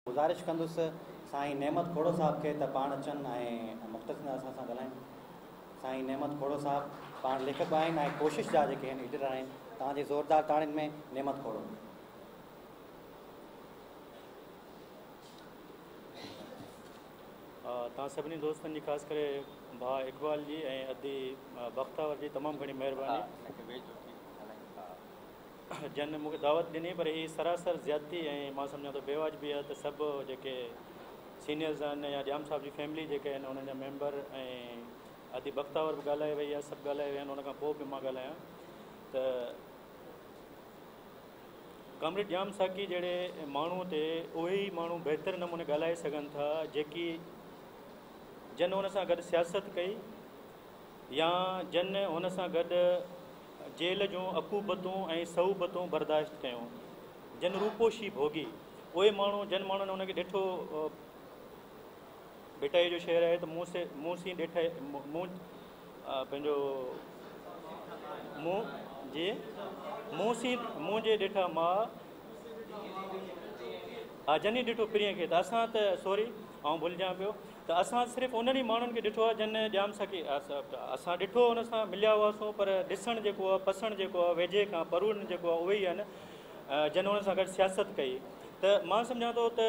گذارش ڪندس سائين نعمت کوڙو صاحب کي ته پاڻ اچن ۽ مختصن اسان سان ڳالهائين. سائين نعمت کوڙو صاحب پاڻ ليکڪ به آهن ۽ ڪوشش جا جيڪي هن ايڊيٽر آهن توهان جي زوردار تاڙين ۾ نعمت کوڙو. توهان سڀني دوستن جي خاص ڪري ڀاء اقبال جي ۽ ادي بختاور جي تمام گهڻي مهرباني. جنھن مون کي دعوت ڏني پر ھي سراسر زيادتي ۽ مان سمجھان ٿو بيواجبي آھي ته سڀ جيڪي سينيئرز آھن يا ڄام صاحب جي فيملي جيڪي آھن انھن جا ميمبر ۽ ادي بختاور به ڳالھائي وئي آھي سڀ ڳالھائي ويا آھن ان کان پوء به مان ڳالھايان ته ڪامريڊ ڄام ساقي جھڙي ماڻھو تي اھي ئي ماڻھو بهتر نموني ڳالھائي سگھن ٿا جيڪي جن ان سان گڏ سياست ڪئي يا جن هن سان گڏ جيل جون عقوبتون ۽ صعوبتون برداشت ڪيون، جن روپوشي ڀوڳي، اهي ماڻهو جن ماڻهن هن کي ڏٺو، ڀٽائيء جو شعر آهي ته مون سي مون سين ڏٺئي مون پنهنجو مون جي مون سين مون جي ڏٺا ماء ها جني ڏٺو پرينء کي ته اسان ته سوري آئون ڀلجان پيو ته اسان صرف انهن ئي ماڻهن کي ڏٺو آهي جن ڄام ساقي اسان ڏٺو ان سان مليا هئاسون پر ڏسڻ جيڪو آهي پسڻ جيڪو آهي ويجهي کان پروڙڻ جيڪو آهي اهي ئي آهن جن ان سان گڏ سياست ڪئي ته مان سمجهان ٿو ته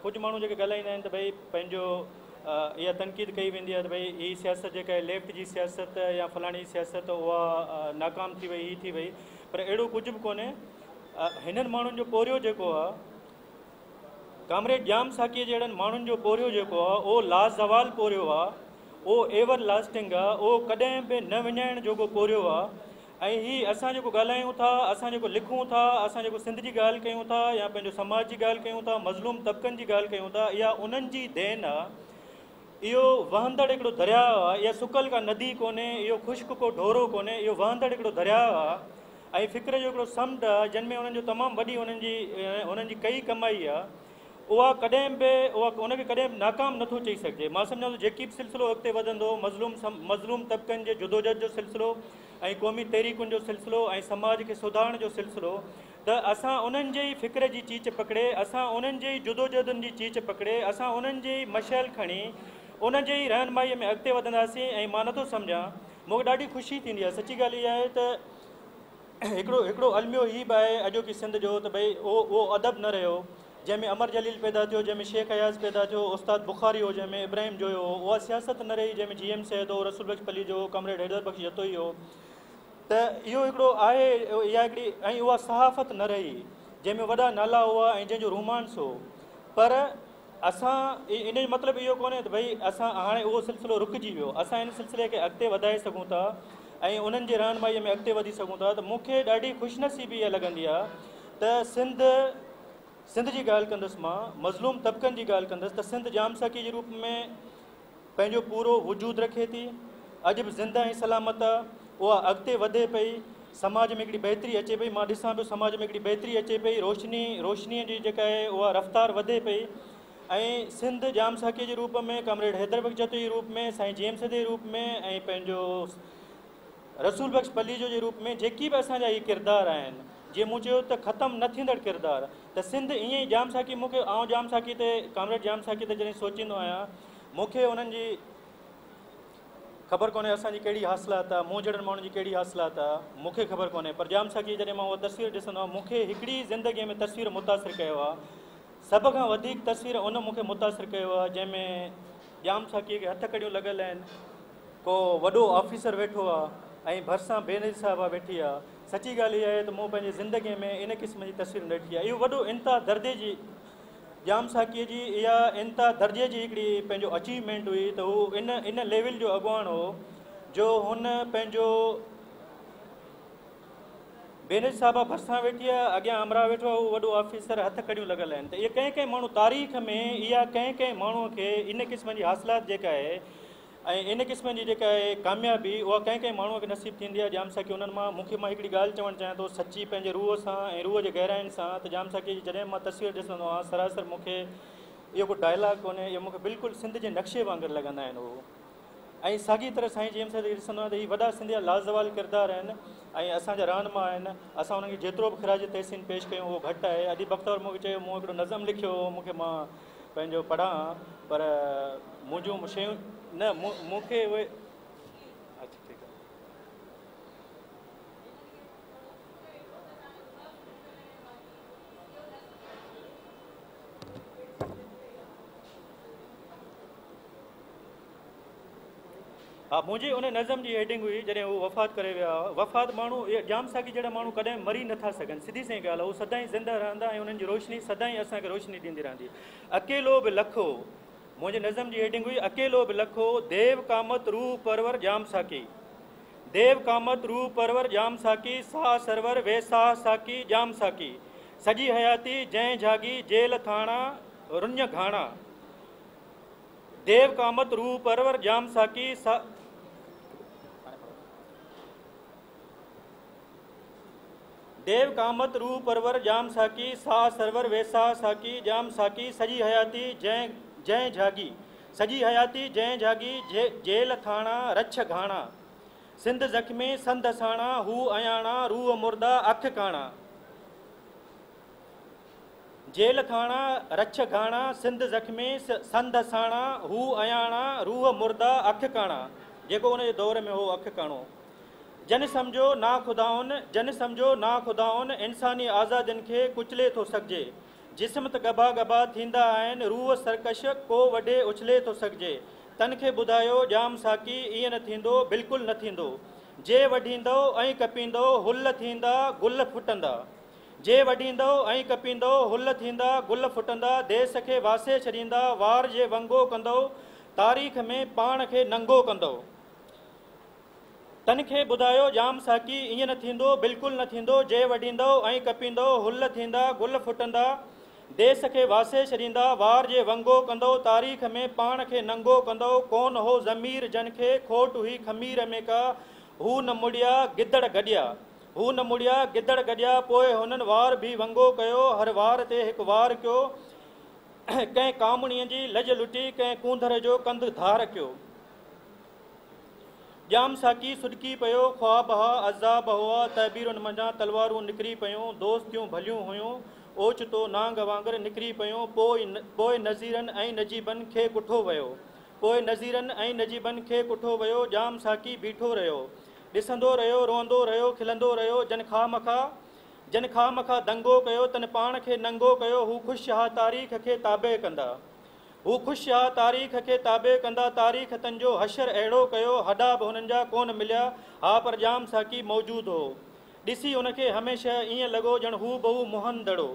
ڪجهه ماڻهو جيڪي ڳالهائيندا آهن ته ڀئي پنهنجو اها تنقيد ڪئي ويندي آهي ته ڀئي هي سياست جيڪا آهي ليفٽ جي سياست يا فلاڻي سياست اها ناڪام ٿي وئي هي ٿي وئي پر اهڙو ڪجهه به ڪونهي هنن ماڻهن جو پورهيو جيڪو آهي ڪامريڊ ڄام ساقيء جهڙن ماڻهن جو پورهيو جيڪو آ، اهو لازوال پورهيو آ، اهو ايور لاسٽنگ آ، اهو ڪڏهن به نه وڃائڻ جوڳو پورهيو آ ۽ هي اسان جيڪو ڳالهايون ٿا، اسان جيڪو لکون ٿا، اسان جيڪو سنڌ جي ڳالهه ڪيون ٿا يا پنهنجو سماج جي ڳالهه ڪيون ٿا، مظلوم طبقن جي ڳالهه ڪيون ٿا، اها انهن جي دين آ. اهو وهندڙ هڪڙو درياء آ، اها سڪل ڪا ندي ڪونهي، اهو خشڪ ڪو ڍورو ڪونهي، اهو وهندڙ هڪڙو درياء آ. ۽ فڪر جو هڪڙو سمنڊ آهي جنھن ۾ انھن جو تمام وڏي انھن جي انھن جي ڪئي ڪمائي آهي اها ڪڏهن به اها ان کي ڪڏهن به ناڪام نه ٿو چئي سگهجي مان سمجهان ٿو جيڪي به سلسلو اڳتي وڌندو مظلوم مظلوم طبقن جي جدوجھد جو سلسلو ۽ قومي تحريڪن جو سلسلو ۽ سماج کي سڌارڻ جو سلسلو ته اسان انھن جي ئي فڪر جي چيچ پڪڙي اسان انھن جي ئي جدوجھدن جي چيچ پڪڙي اسان انھن جي ئي مشعل کڻي ان جي ئي رهنمائي ۾ اڳتي وڌنداسين ۽ مان نه ٿو سمجهان مون کي ڏاڍي خوشي ٿيندي آهي سچي ڳالهه اها آهي ته هڪڙو هڪڙو الميو هي به آهي اڄوڪي سنڌ جو ته ڀئي اهو اهو ادب نه رهيو جنهن ۾ امر جليل پيدا ٿيو جنهن ۾ شيخ اياز پيدا ٿيو استاد بخاري هو جنهن ۾ ابراهيم جويو هو اها سياست نه رهي جنهن ۾ جي ايم سيد هو رسول بخش پليجو هو ڪامريڊ حيدر بخش جتوئي هو ته اهو هڪڙو آهي اها هڪڙي ۽ اها صحافت نه رهي جنهن ۾ وڏا نالا هئا ۽ جنهن جو رومانس هو پر اسان ان جو مطلب اهو ڪونهي ته ڀئي اسان هاڻي اهو سلسلو رڪجي ويو اسان ان سلسلي کي اڳتي وڌائي سگهون ٿا ۽ انهن جي رهنمائي ۾ اڳتي وڌي سگهون ٿا ته مونکي ڏاڍي خوش نصيبي اها لڳندي آهي ته سنڌ سنڌ جي ڳالهه ڪندس مان مظلوم طبقن جي ڳالهه ڪندس ته سنڌ جام ساقي جي روپ ۾ پنهنجو پورو وجود رکي ٿي اڄ به زنده ۽ سلامت اها اڳتي وڌي پئي سماج ۾ هڪڙي بهتري اچي پئي مان ڏسان پيو سماج ۾ هڪڙي بهتري اچي پئي روشني روشنيء جي جيڪا آهي اها رفتار وڌي پئي ۽ سنڌ جام ساکيء جي روپ ۾ ڪامريڊ حيدر بخش جتوئي جي روپ ۾ سائين جيمس جي روپ ۾ ۽ پنهنجو رسول بخش پليجو جي روپ ۾ جيڪي به اسان جا هي ڪردار آهن، جيئن مون چيو ته ختم نه ٿيندڙ ڪردار ته سنڌ ائين ئي ڄام ساقي مون کي آئون ڄام ساقي تي ڪامريڊ ڄام ساقي تي جڏهن سوچيندو آهيان مون کي انهن جي خبر ڪونهي اسان جي ڪهڙي حاصلات آ مون جهڙن ماڻهن جي ڪهڙي حاصلات آ مون کي خبر ڪونهي پر ڄام ساقي جڏهن مان اها تصوير ڏسندو آهيان مون کي هڪڙي زندگي ۾ تصوير متاثر ڪيو آ سڀ کان وڌيڪ تصوير ان مون کي متاثر ڪيو آ جنهن ۾ ڄام ساقي کي هٿ ڪڙيون لڳل آهن ڪو وڏو آفيسر ويٺو آ ۽ ڀرسان بينظير صاحبه ويٺي آ. سچي ڳالهه اها آهي ته مون پنهنجي زندگيء ۾ ان قسم جي تصوير نه ڏٺي آ. اهو وڏو انتها دردي جي ڄام ساقيء جي اها انتها درجي جي هڪڙي پنهنجو اچيومينٽ هئي ته هو ان ان ليول جو اڳواڻ هو جو هن پنهنجو بينظير صاحبه ڀرسان ويٺي آ اڳيان همراهه ويٺو آ اهو وڏو آفيسر هٿ ڪڙيون لڳل آهن ته اهي ڪنهن ڪنهن ماڻهو تاريخ ۾ اها ڪنهن ڪنهن ماڻهو کي ان قسم جي حاصلات جيڪا آهي ۽ ان قسم جي جيڪا اهي ڪاميابي اها ڪنهن ڪنهن ماڻهوء کي نصيب ٿيندي آهي ڄام ساقي انهن مان مون کي مان هڪڙي ڳالهه چوڻ چاهيان ٿو سچي پنهنجي روح سان ۽ روح جي گهراين سان ته ڄام ساقيء جي جڏهن مان تصوير ڏسندو آهيان سراسر مون کي اهو ڪو ڊائلاگ ڪونهي اهي مون کي بلڪل سنڌ جي نقشي وانگر لڳندا آهن اهو ۽ ساڳي طرح سائين جيمس کي ڏسندو آهيان ته هي وڏا سنڌ جا لازوال ڪردار آهن ۽ اسان جا رهنما آهن اسان انهن کي جيترو به خراج تحسين پيش ڪيون اهو گهٽ آهي اديب بختور مون کي چيو مون هڪڙو نظم لکيو هو مون کي مان پنهنجو پڙهان پر منهنجون شيون نه مون کي اهي اچ ٺيڪ آهي ها منهنجي ان نظم جي هيڊنگ هئي جڏهن هو وفات ڪري ويا هئا وفات ماڻهو ڄام ساقي جهڙا ماڻهو ڪڏهن مري نٿا سگهن سڌي سئي ڳالهه هو سدائين زنده رهندا ۽ انهن جي روشني سدائين اسان کي روشني ڏيندي رهندي اڪيلو به لک هو منهنجي نظم جي هيڊنگ هئي اڪيلو به لک هو ديو ڪامت روح پرور ڄام ساقي ديو ڪامت روح پرور ڄام ساقي ساهه سرور وي ساهه ساقي ڄام ساقي سڄي حياتي جنهن جھاڳي جيل ٿاڻا رڃ گھاڻا ديو ڪامت روح پرور ڄام ساقي سا. ديو ڪامت روح پرور ڄام ساقي سا سرور ويساهه ساقي ڄام ساقي سڄي حياتي جنهن جنهن جهاڳي سڄي حياتي جنهن جهاڳي جيل ٿاڻا رڇ گهاڻا سنڌ زخمي سنڌ ساڻا هو اياڻا روح مرده اک ڪاڻا. جيل کاڻا، رڇ گهاڻا، سنڌ زخمي، سنڌ ساڻا، هو اياڻا، روح مرده، اک ڪاڻا، جيڪو ان جي دور ۾ هو اک ڪاڻو. جن سمجهو ناخدائن، جن سمجهو ناخدائن، انساني آزادين کي ڪچلي ٿو سگهجي. جسم ته ڳڀا ڳڀا ٿيندا آهن، روح سرڪش، ڪو وڍي اڇلي ٿو سگهجي. تن کي ٻڌايو ڄام ساقي، ائين نه ٿيندو، بلڪل نه ٿيندو. جي وڍيندؤ ۽ ڪپيندؤ، هل ٿيندا، گل ڦٽندا. جي وڍيندؤ ۽ ڪپيندؤ، هل ٿيندا، گل ڦٽندا، ديس کي واسي ڇڏيندا، وار جي ونگو ڪندؤ، تاريخ ۾ پاڻ کي ننگو ڪندؤ. تن کي ٻڌايو ڄام ساقي، ائين نه ٿيندو، بلڪل نه ٿيندو، جي وڍيندؤ ۽ ڪپيندؤ، هل ٿيندا، گل ڦٽندا، ديس کي واسي ڇڏيندا، وار جي ونگو ڪندؤ، تاريخ ۾ پاڻ کي ننگو ڪندؤ، ڪون هو ضمير جن کي، کوٽ هئي خمير ۾ ڪا، هو نه مڙيا، گدڙ گڏيا. هو نه مڙيا، گدڙ گڏيا، پوء هنن وار ڀي ونگو ڪيو، هر وار تي هڪ وار ڪيو، ڪنهن ڪامڻيء جي لڄ لٽي، ڪنهن ڪونڌر جو ڪنڌ ڌار ڪيو. ڄام ساقي سڏڪي پيو، خواب ها، عذاب هئا، تعبيرن منجهان تلوارون نڪري پيون، دوستيون ڀليون هيون، اوچتو نانگ وانگر نڪري پيون، پوء پوء نذيرن ۽ نجيبن کي ڪٺو ويو، پوء نذيرن ۽ نجيبن کي ڪٺو ويو، ڄام ساقي بيٺو رهيو، ڏسندو رهيو، روئندو رهيو، کلندو رهيو، جن خواهه مخواهه، جن خواهه مخواهه دنگو ڪيو، تن پاڻ کي ننگو ڪيو، هو خوش اها تاريخ کي تابع ڪندا، هو خوش اها تاريخ کي تابع ڪندا، تاريخ تن جو حشر اهڙو ڪيو، هڏا به هنن جا ڪونه مليا ها پر ڄام ساقي موجود هو، ڏسي هن کي هميشه ائين لڳو ڄڻ هو بهو منهن دڙو.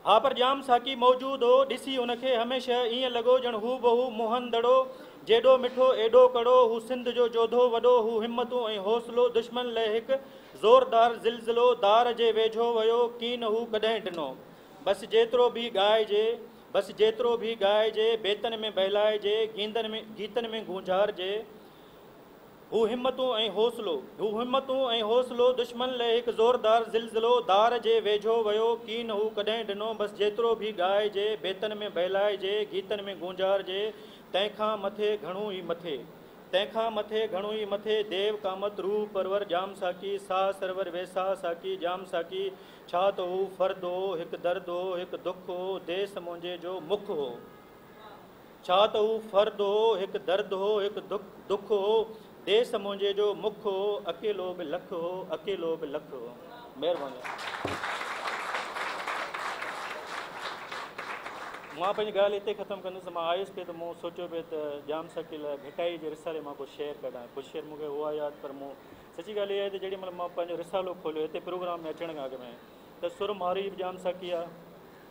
ها پر ڄام ساقي موجود هو، ڏسي هن کي هميشه ائين لڳو ڄڻ هو بهو موهن دڙو، جيڏو مٺو ايڏو ڪڙو، هو سنڌ جو جوڌو وڏو هو همتون ۽ حوصلو دشمن لئه هڪ زوردار زلزلو دار جي ويجهو ويو ڪين هو ڪڏهن ڊنو بس جيترو به ڳائجي بس جيترو به ڳائجي بيتن ۾ بهلائجي گيندن ۾ گيتن ۾ گونجهارجي هو همتون ۽ حوصلو. هو همتون ۽ حوصلو دشمن لئه هڪ زوردار زلزلو ڌار جي ويجهو ويو ڪين هو ڪڏهن ڏنو بس جيترو به ڳائجي بيتن ۾ بهلائجي گيتن ۾ گونجارجي تنهن کان مٿي گهڻو ئي مٿي تنهن کان مٿي گهڻو ئي مٿي ديو قامت روح پرور ڄام ساقي ساهه سرور ويساهه ساقي ڄام ساقي ڇا ته هو فرد هو هڪ درد هو هڪ دک هو ديس منهنجي جو مک هو. ڇا ته هو فرد هو، هڪ درد هو، هڪ دک هو، ديس منهنجي جو مک هو، اڪيلو به لک هو، اڪيلو به لک هو. مهرباني. مان پنهنجي ڳالهه هتي ختم ڪندس. مان آيس پئي ته مون سوچيو پئي ته ڄام ساقيء لاء ڀٽائي جي رسالي مان ڪو شعر ڪڍان. ڪجهه شعر مون کي هئا ياد پر مون سچي ڳالهه اها آهي ته جيڏي مهل مان پنهنجو رسالو کوليو هتي پروگرام ۾ اچڻ کان اڳ ۾ ته سر مارئي به ڄام ساقيء جا،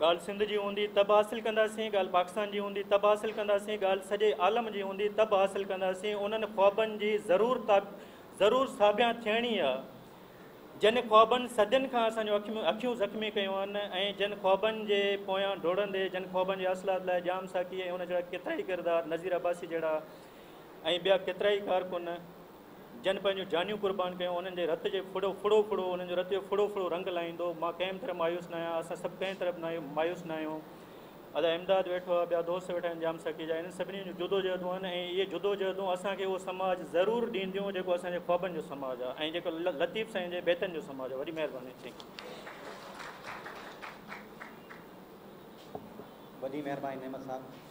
ڳالهه سنڌ جي هوندي ته به حاصل ڪنداسين، ڳالهه پاڪستان جي هوندي ته به حاصل ڪنداسين، ڳالهه سڄي عالم جي هوندي ته به حاصل ڪنداسين، انهن خوابن جي ضرور ضرور ساڀيان ٿيڻي آ، جن خوابن صدين کان اسان جون اکيون زخمي ڪيون آهن ۽ جن خوابن جي پويان ڊوڙندي جن خوابن جي حاصلات لاء ڄام ساقي ۽ ان جهڙا ڪيترائي ڪردار نذير عباسي جهڙا ۽ ٻيا ڪيترائي ڪارڪن جن پنهنجون جانيون قربان ڪيون، انهن جي رت جي ڦڙو ڦڙو ڦڙو، انهن جو رت جو ڦڙو ڦڙو رنگ لاهيندو. مان ڪنهن به طرح مايوس نه آهيان، اسان سڀ ڪنهن طرح به مايوس نه آهيون. ادا امداد ويٺو آهي، ٻيا دوست ويٺا آهن ڄام ساقيجا، انهن سڀني جون جدوجهدون آهن ۽ اهي جدوجهدون اسان کي اهو سماج ضرور ڏينديون جيڪو اسان جي خوابن جو سماج آهي ۽ جيڪو لطيف سائين جي بيتن جو سماج آهي. وڏي مهرباني ٿينڪ يو. وڏي مهرباني نعمت صاحب.